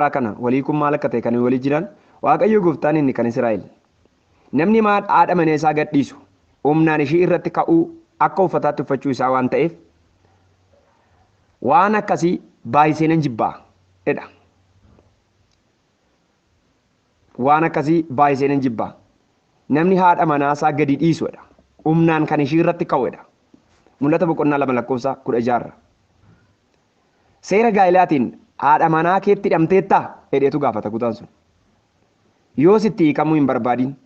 Yaa kana walii kun maal akka ta'e kan walii jiran Waaqayyo gooftaan inni kan Israa'el. Namni maad haadha manee isaa gad dhiisu humnaan ishii irratti ka'uu akka uffataatti uffachuu isaa waan ta'eef waan akkasii baay'isee nan jibbaa jedha. Waan akkasii baay'isee nan jibbaa. Namni haadha manaa isaa gadi dhiisu jedha. Humnaan kan ishii irratti ka'u jedha. Mul'ata boqonnaa lama lakkoofsa kudha jaarra. Seera gaa'ilaatiin haadha manaa keetti hidhamteettaa? jedheetu gaafata kutaan sun. Yoos itti hiikamuu hin barbaadin.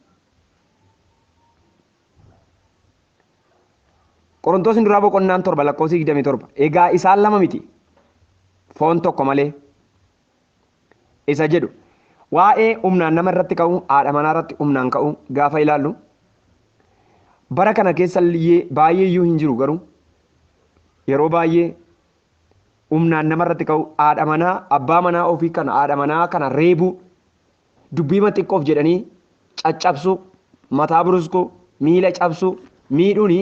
Qorontoosni duraa boqonnaan 7 lakkoofsi 27 egaa isaan lama miti foon tokko malee isa jedhu waa'ee humnaan nama irratti ka'uu haadha manaa irratti humnaan ka'uu gaafa ilaallu bara kana keessa illee baay'ee iyyuu hin jiru garuu yeroo baay'ee humnaan nama irratti ka'uu haadha manaa abbaa manaa ofii kana haadha manaa kana reebuu dubbiima xiqqoof jedhanii caccabsuu mataa buruskuu miila cabsuu miidhuun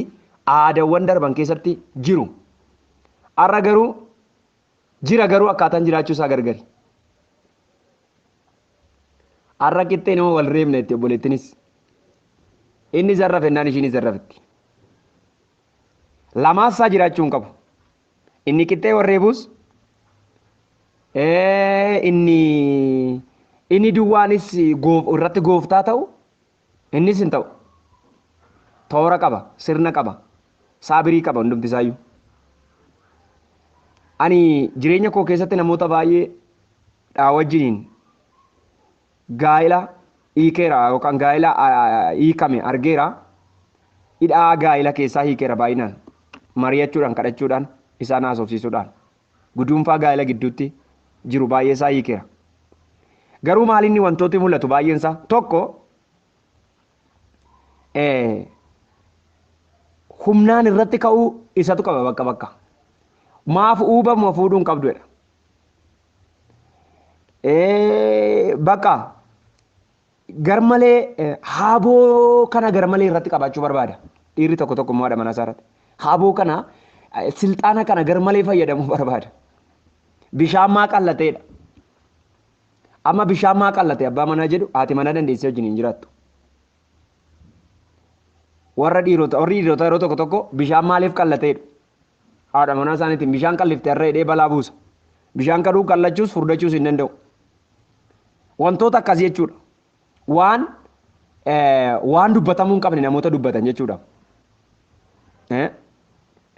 aadaawwan darban keessatti jiru. Har'a garuu Jira garuu akkaataan jiraachuu isaa gargari. Har'a qixxee nama wal reebna itti obboleettinis. Inni zarra fennaan ishiinis zarra fitti. Lamaassaa jiraachuu hin qabu. Inni qixxee wal reebuus inni inni duwwaanis irratti gooftaa ta'u Innis hin ta'u. Toora qaba, sirna qaba, saabirii qaba hundumti isaayyuu. Ani jireenya koo keessatti namoota baay'ee dhaa wajjiniin gaa'ila hiikeera yookaan gaa'ila hiikame argeera. Hidhaa gaa'ila keessaa hiikeera baay'inaan. Mari'achuudhaan, kadhachuudhaan, isaan haasofsiisuudhaan. guduunfaa gaa'ela gidduutti jiru baay'eesaa hiikeera. Garuu maalinni wantooti mul'atu baay'eensaa tokko humnaan irratti ka'uu isatu qaba bakka bakka. Maaf uubamuma fuudhuu hin qabdu jedha. Bakka garmalee haaboo kana garmalee irratti qabaachuu barbaada. Dhiirri tokko tokko immoo haadha manaa isaa irratti. Haaboo kana silxaana kana garmalee fayyadamuu barbaada. Bishaan maa qallateedha. Amma bishaan maa qallate abbaa manaa jedhu haati manaa dandeessee wajjin hin jiraattu. Warra dhiirota warri dhiirota yeroo tokko tokko bishaan maaliif qallateedha. Haadha manaa isaaniitiin bishaan qallifte har'a hidhee balaa buusa. Bishaan kadhuu qallachuus furdachuus hin danda'u. Wantoota akkas jechuudha. Waan waan dubbatamuu hin qabne namoota dubbatan jechuudha.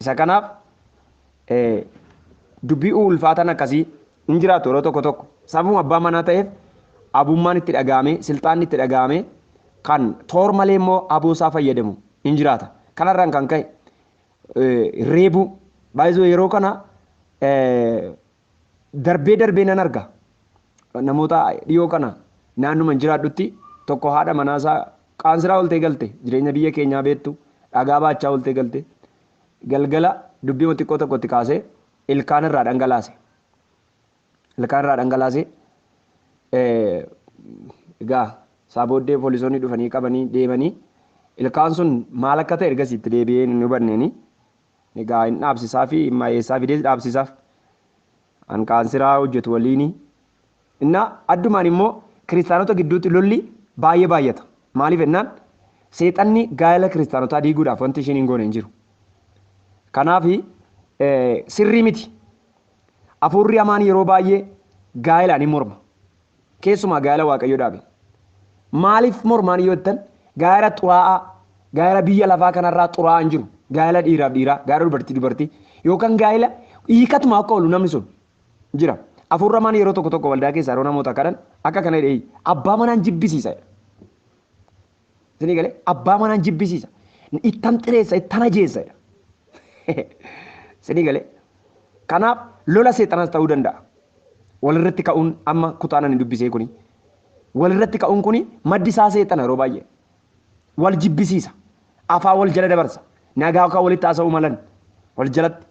Isa kanaaf dubbii ulfaataan akkasii hin jiraatu yeroo tokko tokko. Sababuma abbaa manaa ta'eef abummaan itti dhaga'amee silxaanni itti dhaga'amee kan toor malee immoo aboo isaa fayyadamu hin jiraata. Kanarraan kan ka'e reebuu baay'isuu yeroo kana darbee darbee nan arga namoota dhiyoo kana naannuman jiraadhutti tokko haadha manaasaa qaansiraa oltee galte jireenya biyya keenyaa beektu dhagaa baachaa oltee galte galgala dubbii xiqqoo tokkotti kaasee ilkaan irraa dhangalaase. ilkaan irraa dhangalaase. Egaa isaa booddee poolisoonni dhufanii qabanii deemanii ilkaan sun maal akka ta'e ergasii itti deebi'ee hin hubanneeni. Egaa hin dhaabsisaa fi hin mayeessaa fidees dhaabsisaaf. An kaansiraa hojjetu waliini. Innaa addumaan immoo kiristaanota gidduutti lolli baay'ee baay'ata. Maaliif jennaan seexanni gaa'ela kiristaanotaa diiguudhaaf wanti isheen hin goone hin jiru. Kanaaf sirrii miti. Afuurri hamaan yeroo baay'ee gaa'ela ni morma. Keessumaa gaa'ela Waaqayyo dhaabe. Maaliif mormaan yoo jettan gaa'ela xuraa'aa, gaa'ela biyya lafaa kanarraa xuraa'aan jiru, gaa'ela dhiiraaf dhiiraa, gaa'ela dubartii dubartii yookaan gaa'ela hiikatumaa akka oolu namni sun jira. Afuurri hamaan yeroo tokko tokko waldaa keessaa yeroo namoota kadhan akka kana jedhee abbaa manaan jibbisiisa. Isinii galee abbaa manaan jibbisiisa. Ittan xireessa, ittan ajeessa. Isinii galee. Kanaaf lola seexanaas ta'uu danda'a. Walirratti ka'uun amma kutaan ani dubbisee kuni. Walirratti ka'uun kuni maddi isaa seexana yeroo baay'ee. Wal jibbisiisa. Afaa wal jala dabarsa. Nagaa akka walitti haasa'uu malan. Wal jalatti.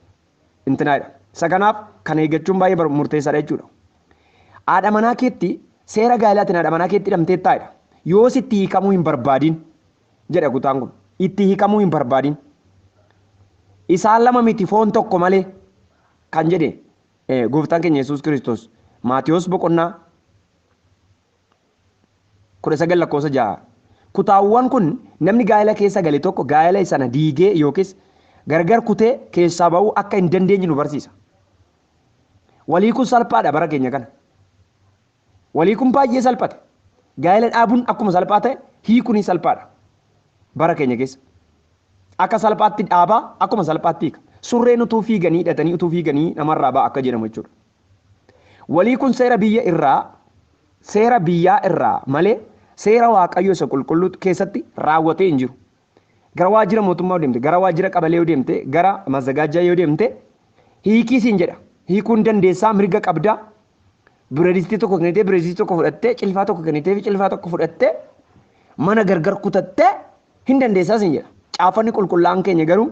intinaa jedhama. Isa kanaaf kana eeggachuun baay'ee bar- murteessaadha jechuudha. Haadha manaa keetti seera gaa'elaatiin haadha manaa keetti hidhamteettaa jedha. Yoos itti hiikamuu hin barbaadin jedha kutaan kun. Itti hiikamuu hin barbaadin. Isaan lama miti foon tokko malee kan jedhe eh, gooftaan keenya Yesuus Kiristoos Maatiyos boqonnaa 19 lakkoofsa 6. Kutaawwan kun namni gaa'ela keessa gale tokko gaa'ela sana diigee yookiis gargar kutee keessaa ba'uu akka hin dandeenye nu barsiisa. Wal hiikuun salphaadha bara keenya kana. Wal hiikuun baay'ee salphate. Gaa'ela dhaabuun akkuma salphaa ta'e hiikuunis salphaadha bara keenya keessa. Akka salphaatti dhaabaa akkuma salphaatti hiika. Surreen utuu fiiganii hidhatanii utuu fiiganii namarraa ba'a akka jedhamu jechuudha. Walii kun seera biyya irraa, seera biyyaa irraa malee seera Waaqayyo isa qulqulluu keessatti raawwatee hin jiru. Gara waajjira mootummaa yoo deemte, gara waajjira qabalee yoo deemte, gara mazagaajjaa yoo deemte hiikii siin jedha. Hiikuu hin dandeessaa, mirga qabda. Bireedistii tokko kennitee bireedistii tokko fudhattee, cilfaa tokko kennitee cilfaa tokko fudhattee mana gargar kutattee hin dandeessaa siin jedha. Caaffanni qulqullaa'aan keenya garuu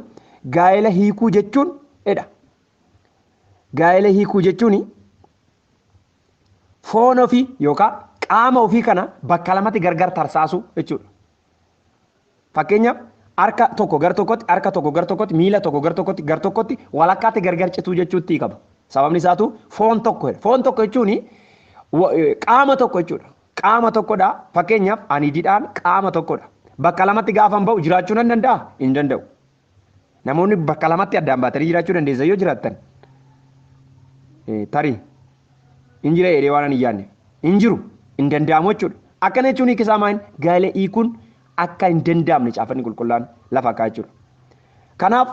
gaa'ela hiikuu jechuun jedha. Gaa'ela hiikuu jechuun foon ofii yookaan qaama ofii kana bakka lamatti gargar tarsaasuu jechuudha. Fakkeenyaaf harka tokko gar tokkotti, harka tokko gar tokkotti, miila tokko gar tokkotti, gar tokkotti walakkaatti gargar cituu jechuutti hiikama. Sababni isaatu foon tokko jedha. Foon tokko jechuun wa- eh, qaama tokko jechuudha. Qaama tokkodha. Fakkeenyaaf ani didhaan qaama tokkodha. Bakka lamatti gaafan ba'u jiraachuu nan danda'a? Hin danda'u. Namoonni bakka lamatti addaan baatanii jiraachuu dandeessan yoo jiraattan eh, tarii hin jira jedhee waan ani hin yaadne hin jiru hin danda'amu jechuudha. Akkana jechuun hiika isaa maal gaa'ela hiikuun akka hin danda'amne caafanni qulqullaa'aan lafa kaa'e jechuudha. Kanaaf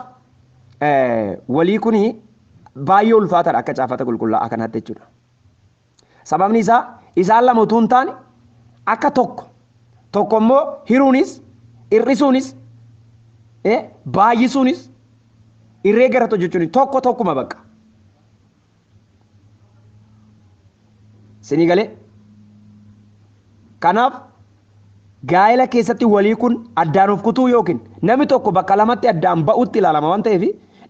eh, walii kun baay'ee ulfaataadha akka caafata qulqullaa'aa kanaatti jechuudha. Sababni isaa isaan lama utuu hin taane akka tokko tokko immoo hiruunis hir'isuunis eh, baay'isuunis irree gara hojjechuun tokko tokkuma bakka. Sinii galee? Kanaaf Gaa'ela keessatti wal hiikuun addaan of kutuu yookiin namni tokko bakka lamatti addaan ba'uutti ilaalama waan ta'eef,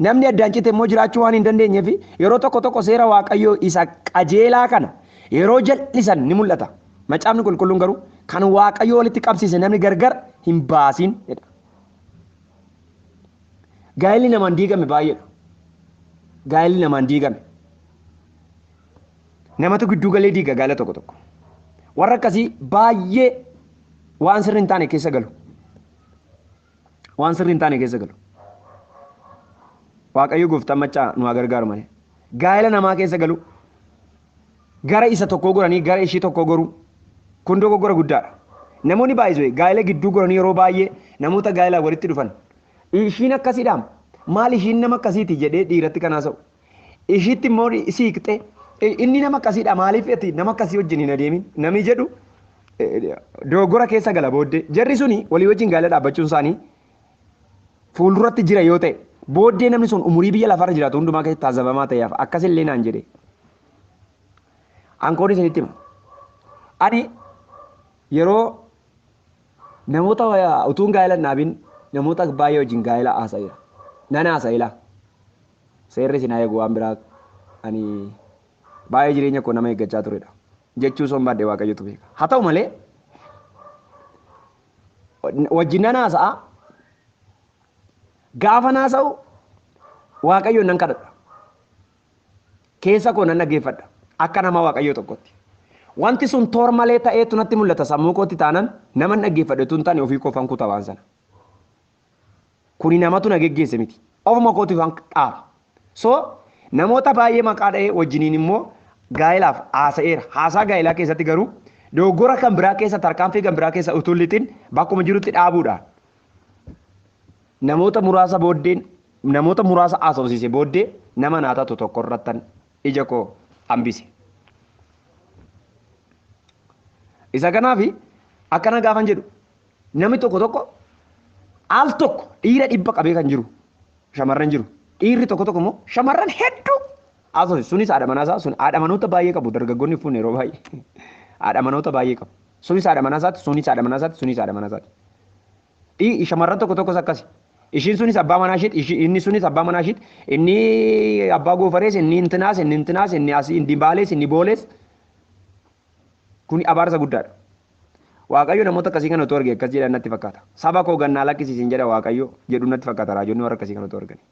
namni addaan cite immoo jiraachuu waan hin dandeenyeef yeroo tokko tokko seera Waaqayyoo isa qajeelaa kana yeroo jal'isan ni mul'ata. Macaafni Qulqulluun garuu, Kan Waaqayyo walitti qabsiise namni gargar hin baasin jedha. Gaa'elli namaan diigame baay'eedha. Gaa'elli namaan diigame. Namatu gidduu galee diiga gaala tokko tokko. Warra akkasii baay'ee waan sirri hin taane keessa galu. Waan sirri hin taane keessa galu. Waaqayyo gooftaan maccaa nu haa gargaaru malee. Gaa'ela namaa keessa galu gara isa tokkoo goranii gara ishii tokkoo goruu kun dogoggora guddaadha. Namoonni baay'isuu gaa'ela gidduu goranii yeroo baay'ee namoota gaa'elaan walitti dhufan ishiin akkasiidhaam maal ishiin nama akkasiiti jedhee dhiiratti kan haasa'u. Ishiitti immoo siiqxee inni nama akkasiidha maaliif ati nama akkasii wajjin hin adeemin namni jedhu dogoggora keessa gala booddee jarri suni walii wajjin gaa'ela dhaabbachuun isaanii fuulduratti jira yoo ta'e booddee namni sun umurii biyya lafarra jiraatu hundumaa keessatti taasifamaa ta'eef akkasillee naan jedhe. Ankoon isinitti hima. Ani yeroo namoota utuun gaa'ela hin dhaabin namoota baay'ee wajjin gaa'ela haasa'eera. Nan haasa'eera. Seerri isin haa eegu waan biraa ani baay'ee jireenya koo nama eeggachaa turedha. Jechuu soon baadhee waaqayyotu beeka. Haa ta'u malee wajjin nan haasa'a gaafa haasa'u waaqayyoon nan kadhadha. Keessa koo nan dhaggeeffadha akka nama waaqayyoo tokkotti. Wanti sun toor malee ta'eetu natti mul'ata sammuu kootti taanan nama hin dhaggeeffadhetu hin taane ofii koofan kuta waan sana. Kuni namatu na geggeesse miti. Ofuma kootiif an dhaaba. So namoota baay'ee maqaa dha'ee wajjiniin immoo gaa'elaaf haasa'eera. Haasaa gaa'elaa keessatti garuu dogoggora kan biraa keessa tarkaanfii kan biraa keessa utuu lixin bakkuma jirutti dhaabuudhaan namoota muraasa booddeen namoota muraasa haasofsiise booddee nama naa taatu tokko irrattan ija koo hambise. Isa kanaaf akkana gaafan jedhu Namni tokko tokko al tokko dhiira dhibba qabee kan jiru shamarran jiru. Dhiirri tokko tokko immoo shamarran hedduu haasofsiisu. Sunis haadha manaa isaa sun haadha manoota baay'ee qabu dargaggoonni fuun yeroo baay'ee haadha manoota baay'ee qabu. Sunis haadha manaa isaati sunis haadha manaa isaati sunis haadha manaa isaati. Dhii shamarran tokko tokkos akkasi. Ishiin sunis abbaa manaa ishiiti ishi- inni sunis abbaa manaa ishiiti inni abbaa goofarees inni intinaas inni intinaas inni asii inni baalees inni boolees Kuni abaarsa guddaadha. Waaqayyo namoota akkasii kana utuu arge akkas jedhan natti fakkaata. Saba koo gannaa lakkisi isin jedha Waaqayyo jedhu natti fakkaata raajonni warra akkasii kana utuu arganii.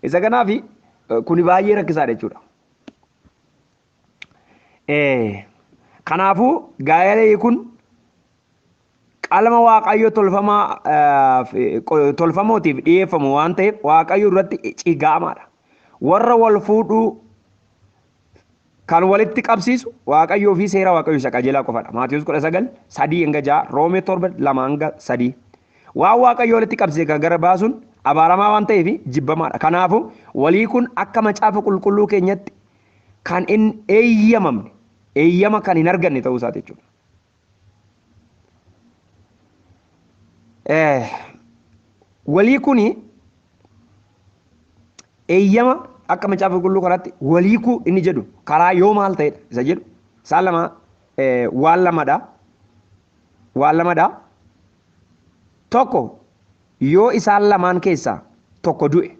Isa kanaaf kuni baay'ee rakkisaadha jechuudha. Kanaafuu gaa'eela hiikuun Qalma Waaqayyo tolfamaa eh, fi- qo- tolfamootiif dhiyeeffamu waan ta'eef Waaqayyo duratti cigaamaadha. Warra wal fuudhuu kan walitti qabsiisu Waaqayyoo fi seera Waaqayyo isa qajeelaa qofadha. Maatiyus 19, 3 hanga 6, Roomee 7, 2 hanga 3. Waan Waaqayyo walitti qabsiise kan gara baasuun abaaramaa waan ta'eef jibbamaadha. Kanaafuu walii kun akka macaafa qulqulluu keenyatti kan hin eeyyamamne, eeyyama kan hin arganne ta'uu isaati jechuudha. Walii kuni eeyyama akka macaafa qulqulluu kanaatti waliikuu inni jedhu karaa yoo maal ta'edha isa jedhu isaan lama waan lamadha. Waan lamadha. Tokko yoo isaan lamaan keessaa tokko du'e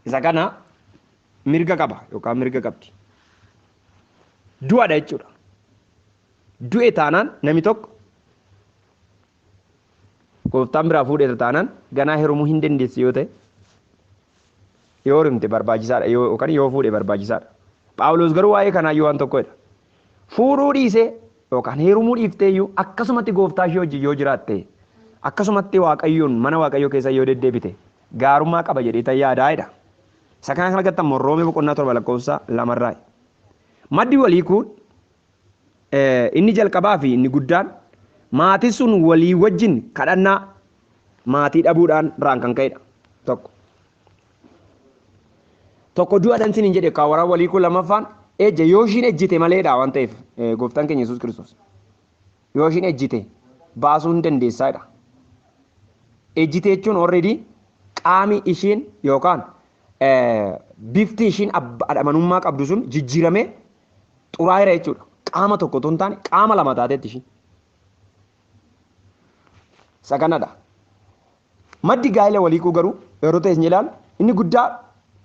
isa kana mirga qaba yookaan mirga qabdi. du'adha jechuudha. Du'e taanaan nami tokko gooftaan biraa fuudheera taanaan ganaa herumuu hin dandeessi yoo ta'e yoo rimte barbaachisaadha yoo yookaan yoo fuudhe barbaachisaadha. Phaawulos garuu waa'ee kanaa yoo waan tokko jedha. Fuudhuu dhiisee yookaan heerumuu dhiiftee iyyuu akkasumatti gooftaa ishee wajjin yoo jiraatte akkasumatti waaqayyoon mana waaqayyoo keessa yoo deddeebite gaarummaa qaba jedhee tan yaadaa jedha. Isa kana kan argattan immoo Roomee boqonnaa torba lakkoofsa lamarraa. Maddi wal hiikuu inni jalqabaa fi inni guddaan maatii sun walii wajjin kadhannaa maatii dhabuudhaan irraan kan ka'edha. Tokko. Tokko du'adhan sin hin jedhe kan waraan wal hiikuu lammaffaan ejja yoo ishiin ejjite maleedha waan ta'eef gooftaan keenya Yesuus Kiristoos. yoo ishiin ejjite baasuu hin dandeessaa jedha. Ejjite jechuun already qaami ishiin yookaan bifti ishiin adhamanummaa qabdu sun jijjiiramee xuraa'eera jechuudha. Qaama tokko otoo hin taane qaama lama taateetti ishiin. Isa kanadha. Maddi gaa'ila wal hiikuu garuu yeroo ta'e hin ilaalu. Inni guddaa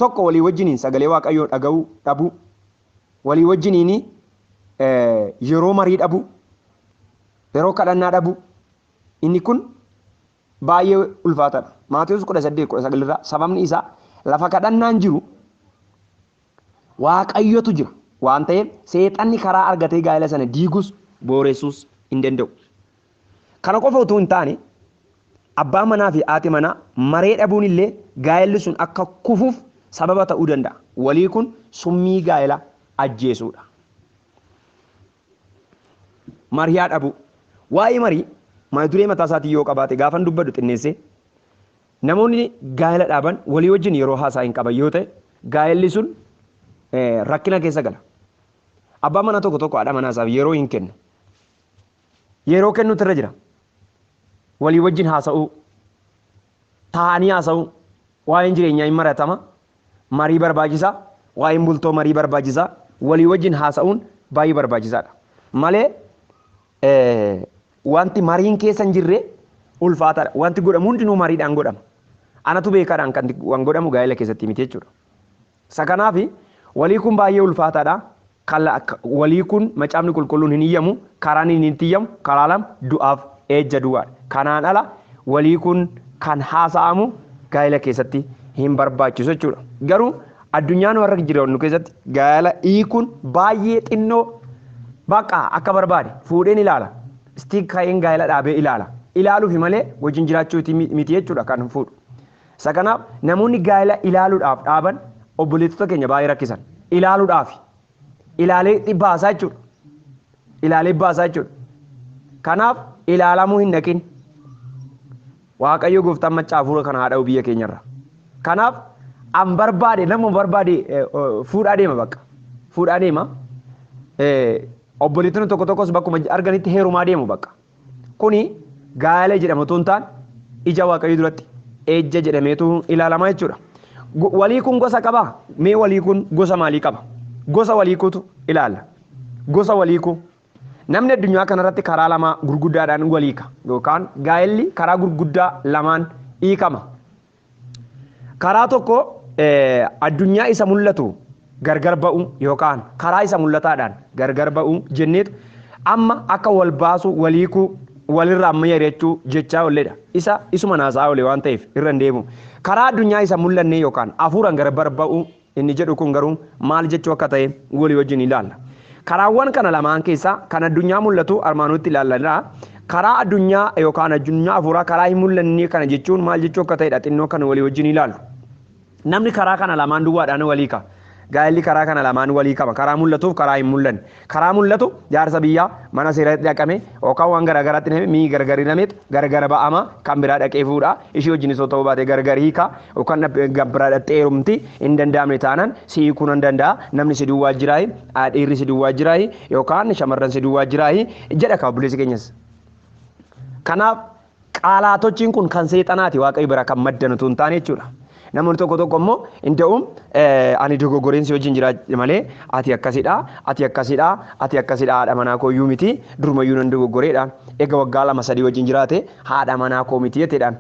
tokko walii wajjiniin sagalee Waaqayyoo dhaga'uu dhabuu, walii wajjiniin yeroo marii dhabuu, yeroo kadhannaa dhabuu, inni kun baay'ee ulfaataadha. Maatewos 18:19 irraa sababni isaa lafa kadhannaan jiru Waaqayyotu jira waan ta'eef seexanni karaa argatee gaa'ela sana diigus booreessuus hin danda'u. Kana qofa utuu hin taane abbaan manaa fi haati manaa maree dhabuun illee gaa'elli sun akka kufuuf sababa ta'uu danda'a. Walii kun summii gaa'ela ajjeesuudha. Mariyaa dhabuu. Waa'ee marii mata duree mataa isaatii yoo qabaate gaafan dubbadhu xinneessee Namoonni gaa'ela dhaaban walii wajjin yeroo haasaa hin qaban yoo ta'e, gaa'elli sun rakkina keessa gala. Abbaan manaa tokko tokko haadha manaa isaaf yeroo hin kennu. Yeroo kennuutu irra jira. Walii wajjin haasa'uu, taa'anii haasa'uu, waa'een jireenyaa hin maratama, marii barbaachisaa, waa'een bultoo marii barbaachisaa, walii wajjin haasa'uun baay'ee barbaachisaadha. Malee Wanti mariin keessa hin jirre ulfaataadha. Wanti godhamu hundinuu mariidhaan godhama. Anatu beekaadhaan kan waan godhamu gaa'ela keessatti miti jechuudha. Isa kanaaf walii kun baay'ee ulfaataadha. Walii kun macaafni qulqulluun hin iyyamu, karaan inni itti iyyamu karaa lama du'aaf eejja duwwaadha. Kanaan ala walii kun kan haasa'amu gaa'ela keessatti hin barbaachisu jechuudha. Garuu Addunyaan warra jiraannu keessatti gaa'ela hiikuun baay'ee xinnoo bakka akka barbaade fuudheen ilaala. Istiik ka'een gaa'ela dhaabee ilaala. Ilaaluufi malee wajjin jiraachuuti miti jechuudha kan fuudhu. Isa kanaaf namoonni gaa'ela ilaaluudhaaf dhaaban obboleettota keenya baay'ee rakkisan. Ilaaluudhaafi ilaalee ni baasaa jechuudha. Ilaalee baasaa jechuudha. Kanaaf ilaalamuu hin dhaqin. Waaqayyo gooftaan macca hafuura kana haadha biyya keenyarra. Kanaaf an barbaade nama barbaade eh, oh, fuudhaa deema bakka. Fuudhaa deema. Eh, Obboleettonni tokko tokkos bakkuma arganitti heerumaa deemu bakka. Kuni gaalee jedhama otoo hin taane ija waaqayyoo duratti ejja jedhameetu ilaalama jechuudha. Go- Walii kun gosa qaba. Mee walii kun gosa maalii qaba? Gosa walii kutu ilaalla. Gosa walii ku. Namni addunyaa kanarratti karaa lamaa gurguddaadhaan waliika yookaan gaa'elli karaa gurguddaa lamaan hiikama. Karaa tokko addunyaa isa mul'atu gargar ba'uu yookaan karaa isa mul'ataadhaan gargar ba'uu jenneetu amma akka wal baasuu, wal hiikuu, walirraa mari'achuu jechaa olledha. Isa isuma naasaa ole waan ta'eef irra hin deebi'u. Karaa addunyaa isa mul'annee yookaan hafuuraan gargar ba'uu inni jedhu kun garuu maal jechuu akka ta'e walii wajjin ilaalla. Karaawwan kana lamaan keessaa kan addunyaa mul'atu armaan olitti ilaallanidha. Karaa addunyaa yookaan addunyaa hafuuraa karaa hin mul'annee kana jechuun maal jechuu akka ta'edha xinnoo kan walii wajjin ilaallu. Namni karaa kana lamaan duwwaadhaan walii ka'a. Gaa'elli karaa kana lamaan walii qaba. Karaa mul'atuuf karaa hin mul'anne. Karaa mul'atu jaarsa biyyaa mana seerati dhaqame yookaan waan garaa garaatti himame mii gargar hinameet gargar ba'ama kan biraa dhaqee fuudha ishii wajjin isoo ta'uu baate gargar hiika yookaan gabbiraa dhaxxee heerumti hin danda'amne taanaan si hiikuu nan danda'a namni si duwwaa jiraayi dhiirri si duwwaa jiraayi yookaan shamarran si duwwaa jiraayi jedha ka obboleessi keenyas. Kanaaf Qaalaatochiin kun kan seexanaati Waaqayyo biraa kan maddan utuu hin taane jechuudha. Namoonni tokko tokko immoo inda'uum ani dogoggoreen si wajjin jira malee ati akkasidha, ati akkasidha, ati akkasidha haadha manaa koo iyyuu miti duruma iyyuu nan dogoggoreedha. Egaa waggaa lama sadii wajjin jiraate haadha manaa koo miti jeteedhaan.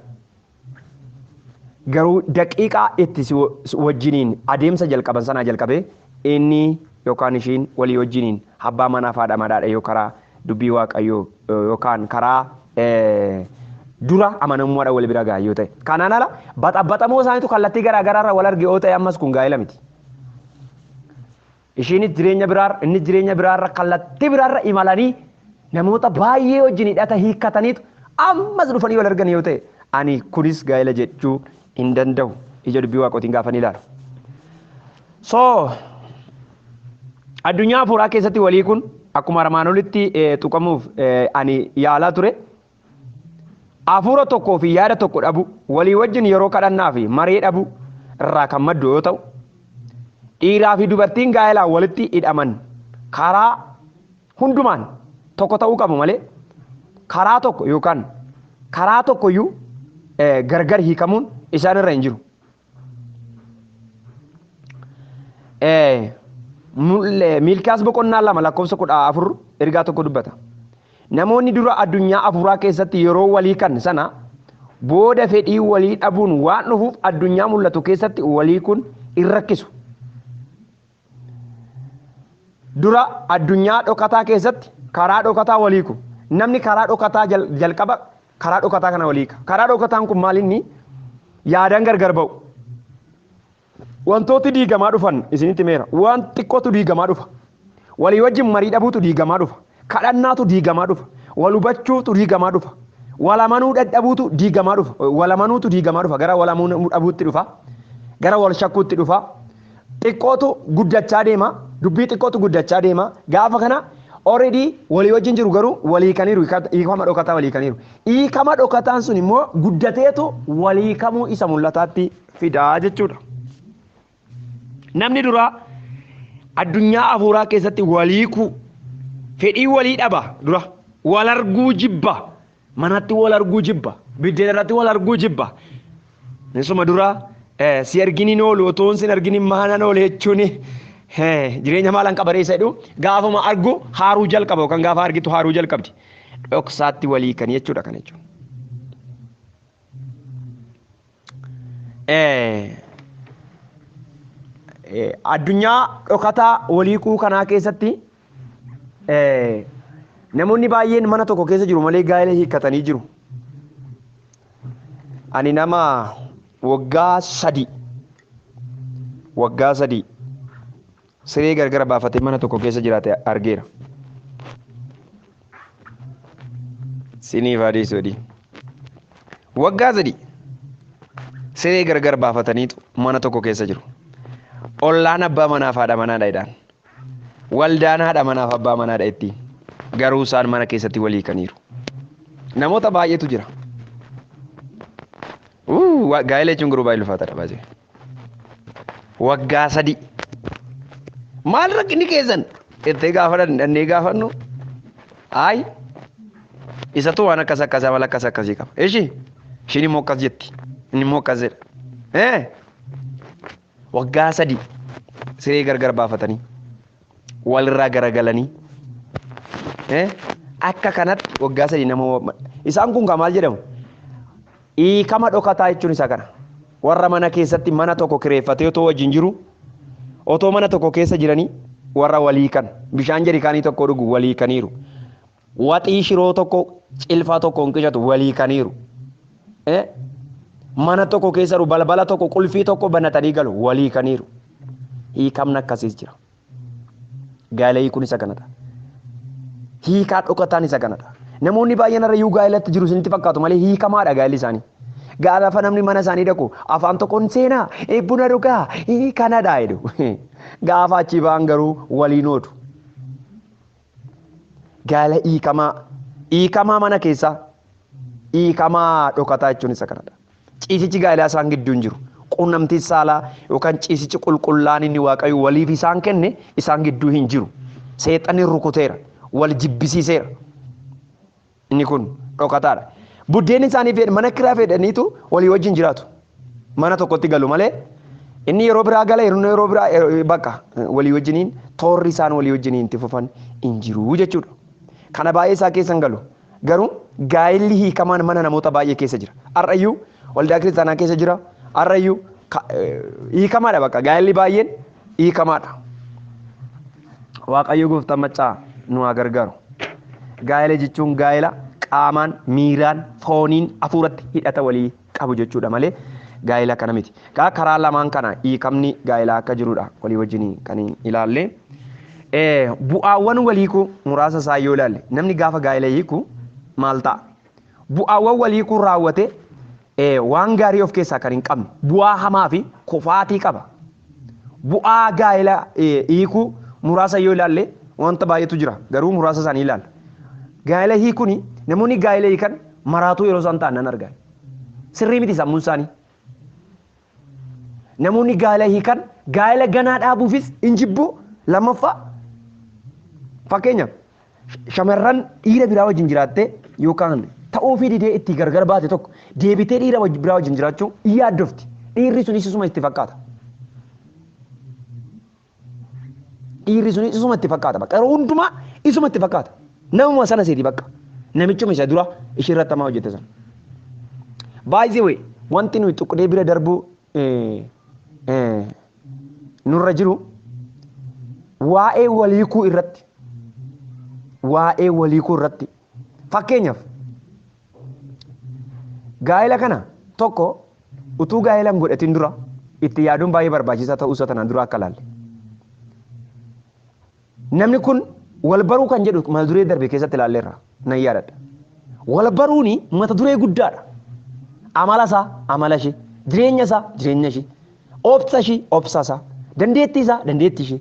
Garuu daqiiqaa itti si wajjiniin adeemsa jalqaban sanaa jalqabee inni yookaan ishiin walii wajjiniin abbaa manaaf haadha manaadha yoo karaa dubbii waaqayyoo yookaan karaa dura amanamummaadhaan wal bira gahan yoo ta'e. Kanaan ala baxabaxamoo isaaniitu kallattii garaa garaarra wal arge yoo ta'e ammas kun gaa'ela miti. Ishiinis jireenya biraarra innis jireenya biraarra kallattii biraarra imalanii namoota baay'ee wajjin hidhata hiikkataniitu ammas dhufanii wal argan yoo ta'e ani kunis gaa'ela jechuu hin danda'u ija dubbii waaqootiin gaafa ni ilaalu. So addunyaa afuuraa keessatti walii kun akkuma armaan olitti eh, tuqamuuf eh, ani yaalaa ture. Afuura tokkoo fi yaada tokko dhabu walii wajjin yeroo kadhannaa fi maree dhabu irraa kan maddu yoo ta'u dhiiraa fi dubartiin gaa'elaan walitti hidhaman karaa hundumaan tokko ta'uu qabu malee karaa tokko yookaan karaa tokkoyyuu eh, gargar hiikamuun isaan irra hin jiru. Miilkiyaas boqonnaa lama lakkoofsa kudha afur ergaa tokko dubbata. Namoonni dura addunyaa afuuraa keessatti yeroo walii kan sana booda fedhii walii dhabuun waan dhufuuf addunyaa mul'atu keessatti walii kun hin rakkisu. Dura addunyaa dhokataa keessatti karaa dhokataa wal hiiku. Namni karaa dhokataa jal- jalqaba karaa dhokataa kana wal hiika. Karaa dhokataan kun maal inni? Yaadaan gargar ba'u. Wantooti diigamaa dhufan isinitti meera. Waan xiqqootu diigamaa dhufa. Walii wajjin marii dhabuutu diigamaa dhufa. Kadhannaatu diigamaa dhufa. Wal hubachuutu diigamaa dhufa. Wal amanuu dadhabuutu diigamaa dhufa. Wal amanuutu diigamaa dhufa. Gara wal amanuu dhabuutti dhufa. Gara wal shakkuutti dhufa. Xiqqootu guddachaa deema. Dubbii xiqqootu guddachaa deema. Gaafa kana already walii wajjin jiru garuu walii hiikaniiru. hiika- Hiikama dhokataa walii hiikaniiru. Hiikama dhokataan sun immoo guddateetu walii hiikamuu isa mul'ataatti fidaa jechuudha. Namni duraa addunyaa afuuraa keessatti waliikuu fedhii walii dhaba dura wal arguu jibba manatti wal arguu jibba biddeen irratti wal arguu jibba isuma dura si arginiin oolu otoon sin arginiin maanan oole jechuun jireenya maalan qabareessa jedhu gaafuma argu haaruu jalqaba yookaan gaafa argitu haaruu jalqabdi dhoksaatti walii kan jechuudha kan jechuudha. Addunyaa dhokataa walii kuu kanaa keessatti namoonni baay'een mana tokko keessa jiru malee gaa'ela hiikkatanii jiru. Ani nama waggaa sadii waggaa sadii siree gargara baafatee mana tokko keessa jiraate argeera. Siniif adii sodii. Waggaa sadii siree gargar baafataniitu mana tokko keessa jiru. Ollaan abbaa manaaf haadha manaadha jedhaan. Waldaan haadha manaaf abbaa manaadha ittiin. Garuu isaan mana keessatti walii kaniiru. Namoota baay'eetu jira. Gaa'ela jechuun garuu baay'ee ulfaataadha baay'ee. waggaa sadii maal rakkinni keessan jettee gaafa dhannee gaafannu ayi isatu waan akkas akkas amala akkas akkasii qaba ishi ishiin immoo akkas jetti inni immoo akkas jedha ee waggaa sadii siree gargar baafatanii walirraa garagalanii eh, akka kanatti waggaa sadii nama wa- isaan kun kan maal jedhamu hiikama dhokataa jechuun isa kana warra mana keessatti mana tokko kireeffatee otoo wajjin jiru otoo mana tokko keessa jiranii warra walii kan bishaan jarikaanii tokko dhugu walii kaniiru Waxii shiroo tokko cilfaa tokkoon qicatu walii kaniiru. Eh? Mana tokko keessaru balbala tokko qulfii tokko banatanii galu walii kaniiru. Hiikamna akkasiis jira. Gaa'ela hiikuun isa kanadha. Hiikaa dhokataan isa kanadha. Namoonni baay'een irra iyyuu gaa'elatti jiru isinitti fakkaatu malee hiikamaadha gaa'elli isaanii. Gaafa namni mana isaanii dhaqu afaan tokkoon seenaa eh, buna dhugaa eh, kanadha jedhu. Gaafa achii ba'an garuu waliin oodu. Gaala hiikamaa, hiikamaa mana keessaa, hiikamaa dhokataa jechuun isa kanadha. Ciisichi gaa'elaa isaan gidduu hin jiru. Quunnamtiin saalaa yookaan ciisichi qulqullaa'aan inni Waaqayyo waliif isaan kenne isaan gidduu hin jiru. Seexanni rukuteera, wal jibbisiiseera. Inni kun dhokataadha. Buddeenni isaanii fedha mana kiraa fedhaniitu walii wajjin jiraatu. Mana tokkotti galu malee inni yeroo biraa gala inni yeroo biraa eh, bakka eh, walii wajjiniin toorri isaan walii wajjiniin itti fufan hin jiru jechuudha. Kana baay'ee isaa keessa hin galu. Garuu gaa'illi hiikamaan mana namoota baay'ee keessa jira. Har'ayyuu waldaa kiristaanaa keessa jira. Har'ayyuu ka- eh, hiikamaadha bakka gaa'illi baay'een hiikamaadha. Waaqayyo gooftaan maccaa nu haa gargaaru. Gaa'ela jechuun gaa'ela qaamaan, miiraan, fooniin, hafuuratti hidhata walii qabu jechuudha malee gaa'ela kana miti. Kaa karaa lamaan kana hiikamni gaa'elaa akka jirudha walii wajjin kan ilaalle. Eh, Bu'aawwan wal hiikuu muraasa isaa yoo ilaalle namni gaafa gaa'ela hiiku maal ta'a? Bu'aawwan wal hiikuu raawwate ee, waan gaarii of keessaa kan hin qabne, bu'aa hamaa fi kufaatii qaba. Bu'aa gaa'ela hiikuu muraasa yoo ilaalle wanta baay'eetu jira, garuu muraasa isaanii ilaalla. Gaa'ela hiikuun namoonni gaa'ela hiikan maraatuu yeroo isaan ta'an nan arga. Sirrii miti sammuun isaanii. Namoonni gaa'ela hiikan gaa'ela ganaa dhaabuufis hin jibbu. Lammaffaa fakkeenyaaf shamarran dhiira biraa wajjin jiraattee yookaan ta'uu fi didee itti gargar baate tokko deebitee dhiira biraa wajjin jiraachuu hin yaaddofti. Dhiirri sunis isuma itti fakkaata. Dhiirri sunis isuma itti fakkaata bakka yeroo hundumaa isuma itti fakkaata. Namuma sana seeti bakka. Namichuma isa dura ishee irratti hamaa hojjette sana. By the way, wanti nuyi tuqnee bira darbuu eh, eh, nurra jiru waa'ee waliikuu irratti waa'ee waliikuu irratti fakkeenyaaf Gaa'ela kana tokko utuu gaa'ela hin godhatin dura itti yaaduun baay'ee barbaachisaa ta'uu isaa tanaan dura akka ilaalle. Namni kun wal baruu kan jedhu mata duree darbe keessatti ilaalleerra nan yaadadha. Wal baruun mata duree guddaadha. Amala isaa amala ishee, jireenya isaa jireenya ishee, Obsa ishii, obsa isaa. Dandeettii isaa, dandeettii ishii.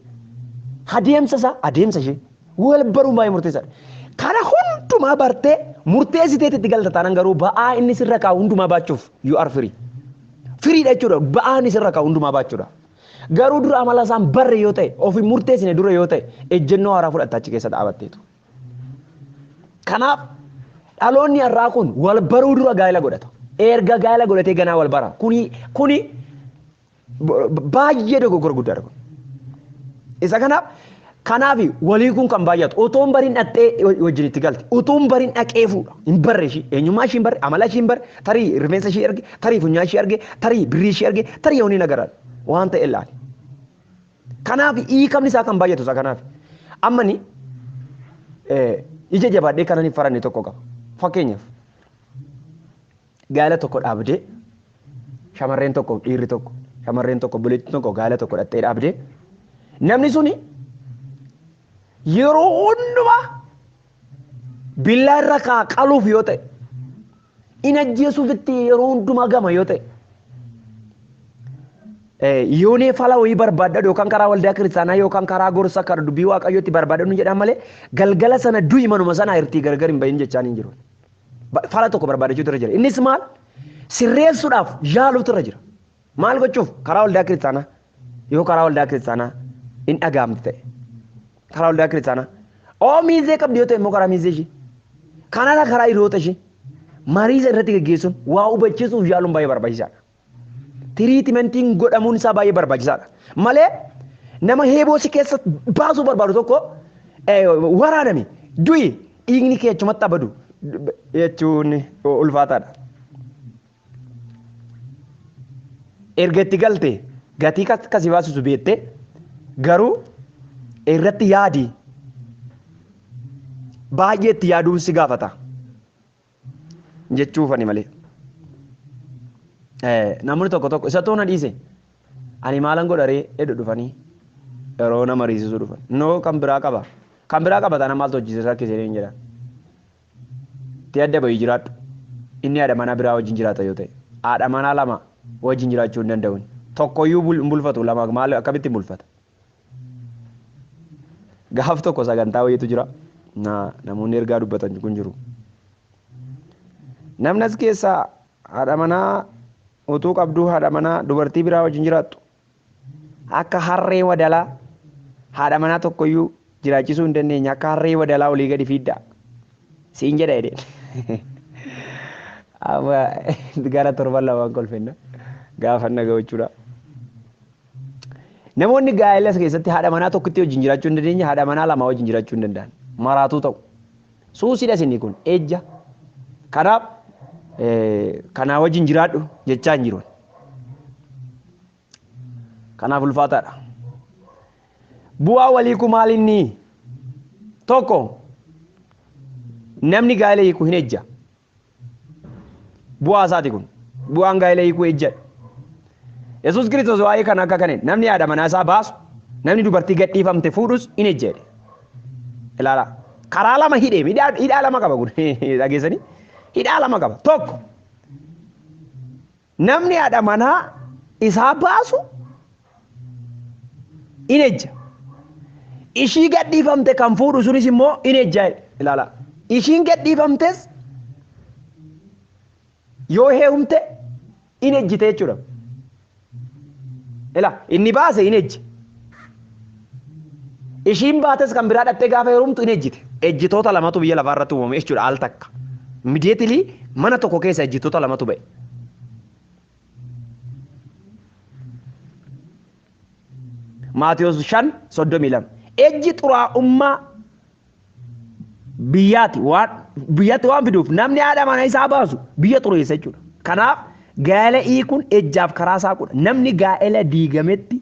Adeemsa isaa, adeemsa ishii. Wal baruun baay'ee murteessaadha. Kana hundumaa bartee murteessiteeti itti galta taanaan garuu ba'aa inni sirra kaa'u hundumaa baachuuf you are free. Firiidha jechuudha. Ba'aa inni sirra kaa'u hundumaa baachuudha. Garuu dura amala isaan barre yoo ta'e, ofi murteessine dura yoo ta'e, ejjennoo haaraa fudhatta achi keessa dhaabatteetu. Kanaaf dhaloonni har'aa kun wal baruu dura gaa'ela godhata. Erga gaa'ela godhatee ganaa wal bara. Kuni kuni baay'ee dogoggora guddaadha kun. Isa kanaaf kanaaf walii kun kan baay'atu otoo hin barin dhaqxee wajjin itti galte otoo hin barin dhaqee fuudha hin barre ishii eenyummaa ishii hin barre amala ishii hin barre tarii rifeensa ishii erge tarii funyaan ishii erge tarii birrii ishii erge tarii yoonii nagaraa waan ta'e ilaali. Kanaaf hiikamni isaa kan baay'atu isaa kanaaf. Amma ni ija jabaadhee kanan hin faranne tokko qaba. Fakkeenyaaf gaala tokko dhaabdee shamarreen tokko dhiirri tokko shamarreen tokko buleetti tokko gaala tokko dhattee dhaabdee namni suni yeroo hundumaa billaa irra kaa qaluuf yoo ta'e in ajjeesuuf itti yeroo hundumaa gama yoo ta'e. Yoonee fala wayii barbaadadhu yookaan karaa waldaa kiristaanaa yookaan karaa gorsa karaa dubbii waaqayyootti barbaadadhu jedhan malee galgala sana du'i manuma sana irtii gargar hin bahin jechaan hin jiru. Fala tokko barbaadachuutu irra jira. Innis maal? Sirreessuudhaaf yaaluutu irra jira. Maal gochuuf karaa waldaa kiristaanaa yoo karaa waldaa kiristaanaa hin dhagahamtu ta'e karaa waldaa kiristaanaa oo miizee qabdi yoo ta'e immoo karaa miizee ishee kanarra karaa hiriyoota ishee mariisa irratti gaggeessuun waa hubachiisuuf yaaluun baay'ee barbaachisaadha. Tiriitimentiin godhamuun isaa baay'ee barbaachisaadha. Malee nama heeboo si keessa baasuu barbaadu tokko waraanami du'i dhiigni kee achumatti abadu jechuun ulfaataadha. erga itti galte gatii akka si baasisu beekte garuu irratti yaadi baay'ee itti yaaduun si gaafata jechuufani malee. Namni tokko tokko isa toona dhiise ani maalan godharee edu dhufanii yeroo nama riisisuu dhufan noo kan biraa qaba kan biraa qaba taana maaltu hojjisiisa rakkisee hin jedhan. tti adda bahi jiraadhu. Inni haadha manaa biraa wajjin jiraata yoo ta'e. Haadha manaa lama wajjin jiraachuu hin danda'u inni. Tokko iyyuu hin bulfatu lama maal akkamitti hin bulfata. Gaaf tokko sagantaa wayiitu jira. Namoonni ergaa dubbatan kun jiru. Namni as keessaa haadha manaa utuu qabduu haadha manaa dubartii biraa wajjin jiraattu Akka harree wadalaa haadha manaa tokkoyyuu jiraachisuu hin dandeenye akka harree wadalaa olii gadi fiiddaa siin jedha jedheen. Amma gara torban lamaan kolfenna gaafa na ga'u jechuudha. Namoonni gaa'elas keessatti haadha manaa tokkitti wajjin jiraachuu hin dandeenye haadha manaa lamaa wajjin jiraachuu hin danda'an maraatuu ta'u. Suusidha isinni kun ejja. Kanaaf kanaa wajjin jiraadhu jechaa hin jiru. Kanaaf ulfaataadha. Bu'aa walii kun maal inni? Tokko namni gaa'ela hiiku hin ejja. Bu'aa isaati kun. Bu'aan gaa'ela hiikuu ejjadha. Yesuus Kiristoos waa'ee kana akka kaneen namni haadha manaa isaa baasu namni dubartii gadhiifamte fuudhus in ejja jedhe. Ilaalaa. Karaa lama hidhee hidhaa hidhaa lama qaba kun dhageessanii hidhaa lama qaba tokko Namni haadha manaa isaa baasu in ejja. Ishii gadhiifamte kan fuudhu sunis immoo in ejja ilaala. Ishiin gadhiifamtes yoo heerumte in ejjite jechuudha. Ila inni baase in ejje. Ishiin baates kan biraa dhattee gaafa heerumtu in ejjite. Ejjitoota lamatu biyya lafaa irratti uumame jechuudha al takka. Immediately mana tokko keessa ejjitoota lamatu ba'e. Maatiyos 5:32 Ejji xuraa'ummaa biyyaatti waan biyyatti waan fiduuf namni haadha mana isaa baasu biyya xureessa jechuudha. Kanaaf gaa'ela hiikuun ejjaaf karaa isaa godha. Namni gaa'ela diigametti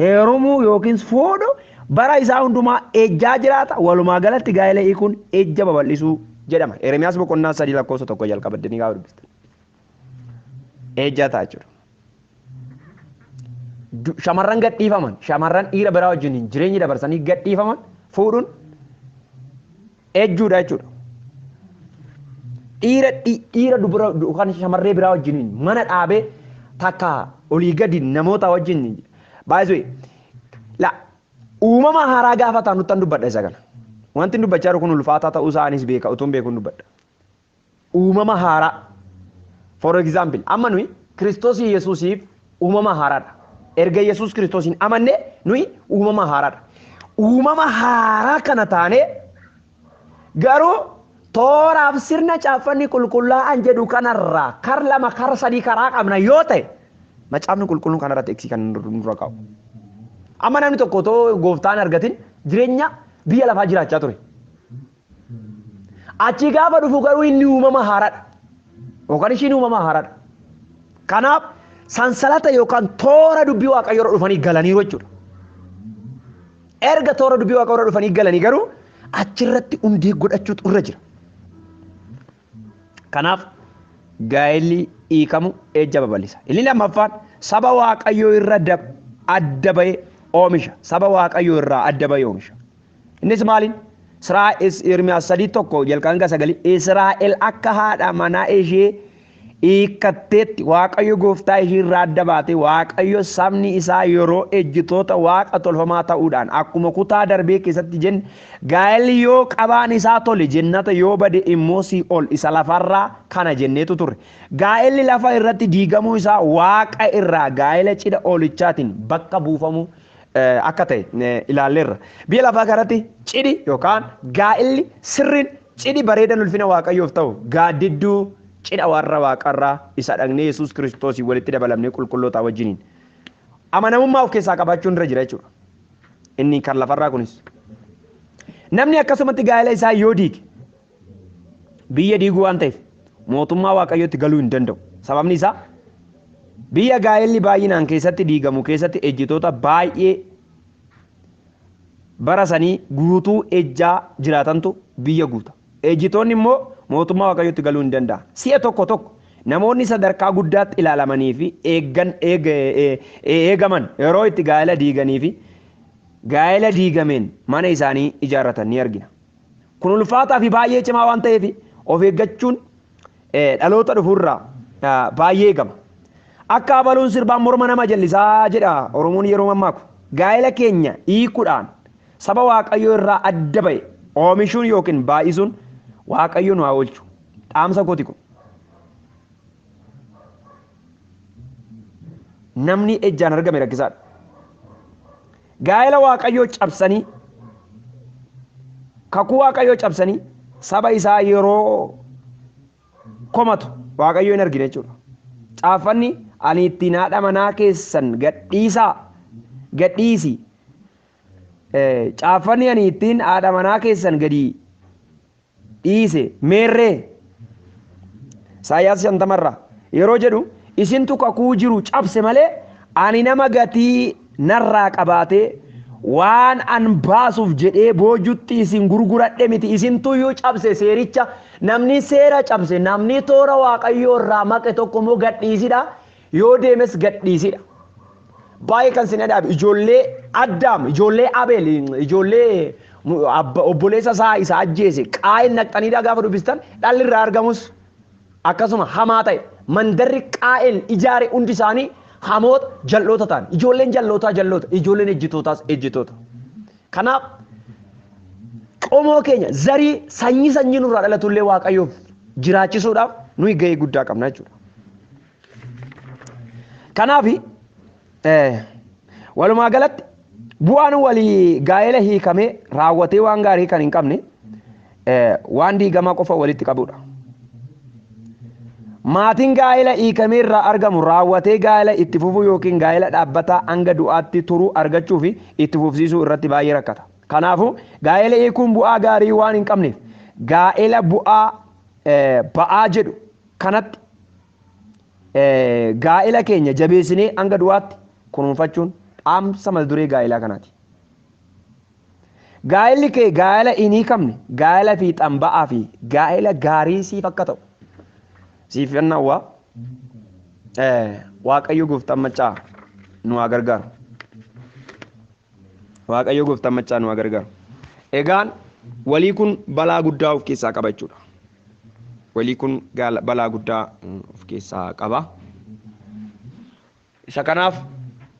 heerumuu yookiin fuudhu bara isaa hundumaa ejjaa jiraata. Walumaa galatti gaa'ela hiikuun ejja babal'isuu jedhama. Eremiyaas boqonnaa sadii lakkoofsa tokko jalqaba deemnee gaafa dubbistan. eejjaa ta'a jechuudha. Du- Shamarran gadhiifaman shamarran dhiira biraa wajjiniin jireenya dabarsanii gadhiifaman fuudhuun eejjuudha jechuudha. Dhiira dhi- dhiira dubara du- kan shamarree biraa wajjiniin mana dhaabee takka olii gadi namoota wajjin baay'isuu la uumama haaraa gaafataa nuttan dubbadha isa kana. Wanti dubbachaa jiru kun ulfaataa ta'uu isaa anis beeka utuun beekuun dubbadha. uumama haaraa for example amma nuyi Kiristoos Yesuusiif uumama haaraadha. Erga Yesuus Kiristoosiin amanne nuyi uumama haaraadha. Uumama haaraa kana taanee garuu tooraaf sirna caaffanni qulqullaa'an jedhu kanarraa kar lama kar sadii karaa qabna yoo ta'e macaafni qulqulluun kanarratti eegsii kan nurra kaa'u. Amma namni tokko otoo gooftaan argatin jireenya biyya lafaa jiraachaa ture. Achii gaafa dhufu garuu inni uumama haaraadha. Yookaan ishiin uumama haaraadha. Kanaaf sansalata yookaan toora dubbii waaqayyoo irra dhufanii galaniiru jechuudha. Erga toora dubbii waaqayyoo irra dhufanii galanii garuu achirratti hundee godhachuutu irra jira. Kanaaf gaa'elli hiikamu ejja babal'isa. Inni lammaffaan saba waaqayyoo irra adda bahee oomisha. Saba waaqayyoo irraa adda bahee oomisha. Innis maaliin? Siraa is Ermiyaas sadii tokko jalqabaa hanga sagalii Israa'el akka haadha manaa ishee hiikkatteetti Waaqayyo gooftaa ishii irraa adda baate Waaqayyo sabni isaa yeroo ejjitoota waaqa tolfamaa ta'uudhaan akkuma kutaa darbee keessatti jenne gaa'elli yoo qabaan isaa tole jennata yoo bade immoo sii'ol isa lafarraa kana jenneetu turre gaa'elli lafa irratti diigamuu isaa waaqa irraa gaa'ela cidha oolichaatiin bakka buufamuu akka ta'e ilaalleerra. Biyya lafaa kanatti cidhi yookaan gaa'illi sirriin cidhi bareedan ulfina Waaqayyoof ta'u gaaddidduu cidha warra waaqarraa isa dhagna Yesuus Kiristoosiin walitti dabalamnee qulqullootaa wajjiniin amanamummaa of keessaa qabaachuun irra jira jechuudha. Inni kan lafarraa kunis. Namni akkasumatti gaa'ela isaa yoo diige Biyya diiguu waan ta'eef mootummaa Waaqayyootti galuu hin danda'u. Sababni isaa biyya gaa'elli baay'inaan keessatti diigamu keessatti ejjitoota baay'ee bara sanii guutuu ejjaa jiraatantu biyya guuta. Ejjitoonni immoo mootummaa Waaqayyootti galuu hin danda'an. Si'a tokko tokko namoonni sadarkaa guddaatti ilaalamanii fi eeggan eegaman yeroo itti gaa'ela diiganii fi gaa'ela diigameen mana isaanii ijaarratan ni argina. Kun ulfaataa fi baay'ee cimaa waan ta'eef of eeggachuun dhaloota dhufuurraa baay'ee eegama. Akka abaluun sirbaan morma nama jallisaa jedha Oromoon yeroo mammaaku. Gaa'ela keenya hiikuudhaan saba Waaqayyoo irraa adda ba'e oomishuun yookiin baay'isuun Waaqayyo nu haa oolchu. Dhaamsa kooti kun. Namni ejjaan argame rakkisaadha. Gaa'ela Waaqayyoo cabsanii, kakuu Waaqayyoo cabsanii saba isaa yeroo komatu Waaqayyoo hin argine jechuudha. Caaffanni ani ittiin haadha manaa keessan gadhiisaa gadhiisi. Caaffanni ani ittiin haadha manaa keessan gadi dhiise meerree Isaayyaas 50 irraa yeroo jedhu isintu kakuu jiru cabse malee ani nama gatii narraa qabaatee waan an baasuuf jedhee boojutti isin gurguradhe miti isintu iyyuu cabse seericha namni seera cabse namni toora waaqayyoo irraa maqe tokko immoo gadhiisidha Yoo deemes gadhiisidha. Baay'ee kan sin adaabe ijoollee Addaam, ijoollee Abeel, ijoollee obboleessa isaa isa ajjeese qaa'een naqxaniidhaa gaafa dubbistan dhalli irraa argamus akkasuma hamaa ta'e mandarri qaa'een ijaare hundi isaanii hamoota jal'oota ta'an ijoolleen jal'ootaa jal'oota ijoolleen ejjitootaas ejjitoota. Kanaaf qomoo keenya zarii sanyii sanyii nurraa dhalatullee waaqayyoof jiraachisuudhaaf nuyi gahee guddaa qabna jechuudha. Kanaaf walumaa galatti bu'aan walii gaa'ela hiikamee raawwatee waan gaarii kan hin qabne waan diigamaa qofa walitti qabudha. Maatiin gaa'ela hiikamee irraa argamu raawwatee gaa'ela itti fufuu yookiin gaa'ela dhaabbataa hanga du'aatti turuu argachuu fi itti fufsiisuu irratti baay'ee rakkata. Kanaafuu gaa'ela hiikuun bu'aa gaarii waan hin qabneef gaa'ela bu'aa ba'aa jedhu kanatti gaa'ela keenya jabeessinee hanga du'aatti kunuunfachuun dhaamsa mata duree gaa'elaa kanaati. Gaa'elli kee gaa'ela hin hiikamne, gaa'ela fiixaan ba'aa fi gaa'ela gaarii siif akka ta'u siif nan hawwa. Waaqayyo gooftaan maccaa nu haa gargaaru. Waaqayyo gooftaan maccaa nu haa gargaaru. Egaan walii kun balaa guddaa of keessaa qaba jechuudha. Walii kun gaala- balaa guddaa mm, of keessaa qaba. Isa kanaaf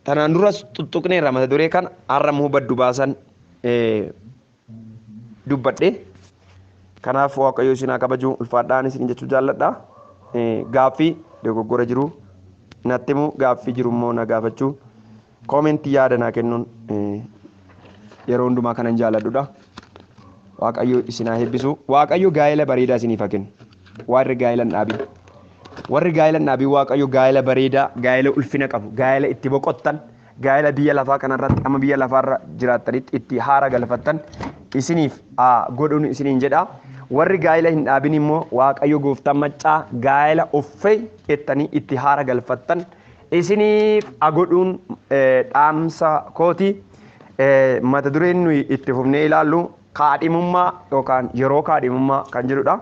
tanaan duras tuttuqneerra mata duree kana har'a immoo baddu baasan eh, dubbadhe. Kanaaf Waaqayyo isin haa kabaju ulfaadhaan isin jechuu jaalladha. Eh, Gaaffii dogoggora jiru natti himu gaaffii jiru immoo na gaafachuu Comment yaada naa kennuun yeroo hundumaa kanan jaaladhudha. Waaqayyo isin haa eebbisu. Waaqayyo gaa'ela bareedaa isiniif haa kennu. Warri gaa'ela hin dhaabin. Warri gaa'ela hin dhaabin Waaqayyo gaa'ela bareedaa, gaa'ela ulfina qabu, gaa'ela itti boqottan, gaa'ela biyya lafaa kanarratti amma biyya lafaarra jiraattanitti itti haara galfattan isiniif haa godhun isiniin jedha. Warri gaa'ela hin dhaabin immoo Waaqayyo gooftaan maccaa gaa'ela uffee jettanii itti haara galfattan isiniif a godhuun dhaamsa kooti. Mata dureen nuyi itti fufnee ilaallu kaadhimummaa yookaan yeroo kaadhimummaa kan jedhudha.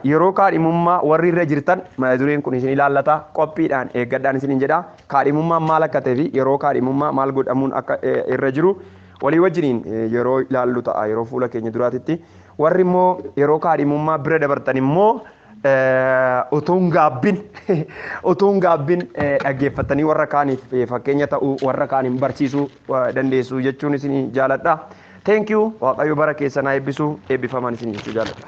Yeroo kaadhimummaa warri irra jirtan mata dureen kun isin ilaallata qophiidhaan eeggadhaan isiniin jedha. Kaadhimummaan maal akka ta'e fi yeroo kaadhimummaa maal godhamuun akka irra jiru walii wajjiniin yeroo ilaallu ta'a yeroo fuula keenya duraatitti. Warri immoo yeroo kaadhimummaa bira dabartan immoo utuun gaabbin utuun gaabbin dhaggeeffattanii warra kaaniif fakkeenya ta'uu warra kaaniin barsiisuu dandeessu jechuun isin jaaladha. Thank you waaqayyo bara keessan haa eebbisu eebbifamaan isin jechuu jaaladha.